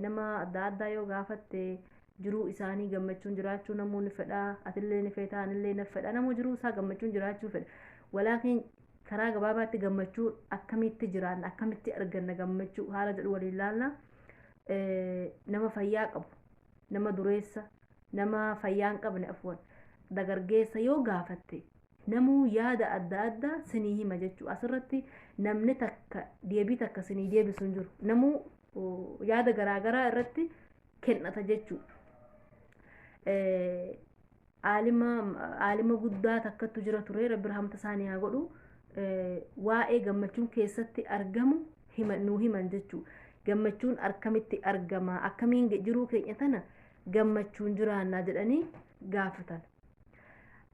Nama adda addaa yoo gaafatte jiruu isaanii gammachuun jiraachuu namuu ni fedha. Atillee ni feeta, anillee na fedha. Namuu jiruu isaa gammachuun jiraachuu fedha. Walaakin karaa gabaabaatti gammachuu akkamitti jiraanna, akkamitti arganna gammachuu haala jedhu waliin laalla. Nama fayyaa qabu, nama dureessa, nama fayyaa hin qabne afuwan, dagargeessa yoo gaafatte Namuu yaada adda adda sinii hima jechuu asirratti namni takka deebii takka sinii deebisu hin jiru. Namuu yaada garaagaraa irratti kennata jechuu. Aalima aalima guddaa takkattu jira ture rabbi rahamta isaanii haa godhu. Waa'ee gammachuun keessatti argamu hima nuu himan jechuu. Gammachuun akkamitti argama akkamiin jiruu keenya tana gammachuun jiraannaa jedhanii gaafatan.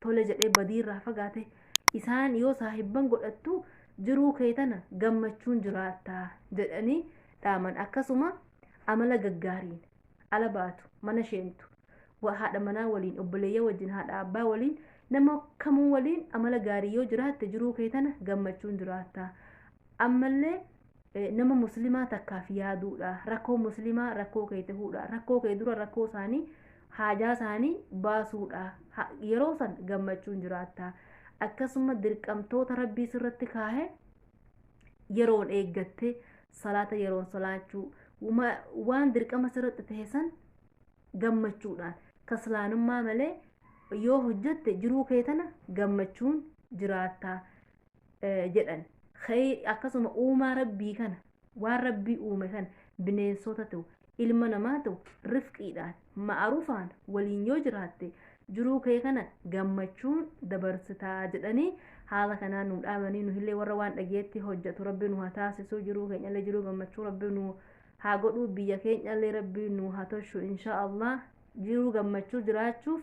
tole jedhee badii irraa fagaate isaan yoo saahibban godhattu jiruu kee tana gammachuun jiraatta jedhanii dhaaman akkasuma amala gaggaariin ala baatu mana sheentu haadha manaa waliin obboleeyya wajjin haadha abbaa waliin nama kamuu waliin amala gaarii yoo jiraatte jiruu kee tana gammachuun jiraatta ammallee nama muslimaa takkaaf yaaduudha rakkoo muslimaa rakkoo kee ta'uudha rakkoo kee dura rakkoo isaanii haajaa isaanii baasuudha yeroo san gammachuun jiraatta akkasuma dirqamtoota rabbii sirratti kaahe yeroon eeggatte salaata yeroon salaachuu waan dirqama sirratti ta'e san gammachuudhaan kaslaanummaa malee yoo hojjette jiruu kee tana gammachuun jiraatta jedhan akkasuma uumaa rabbii kana waan rabbii uume kana bineensota ta'u ilma namaa ta'u rifqiidhaan ma'arufaan waliin yoo jiraatte jiruu kee kana gammachuun dabarsitaa jedhanii haala kanaan nu dhaamanii nuhillee warra waan dhageetti hojjetu rabbi nu haa taasisuu jiruu keenyallee jiruu gammachuu rabbi nu haa godhuu biyya keenyallee rabbi nu haa tolchu inshaa allah jiruu gammachuu jiraachuuf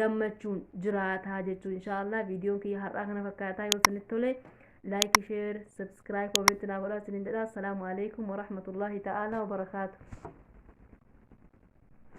gammachuun jiraataa jechuu inshaallah viidiyoon kiyya har'aa kana fakkaataa yoo isinitti tole laayik sheer sabskiraayib koomeenti naa godhaa isiniin jedha assalaamu alaikum warahmatullaahi ta'aalaa wabarakaatu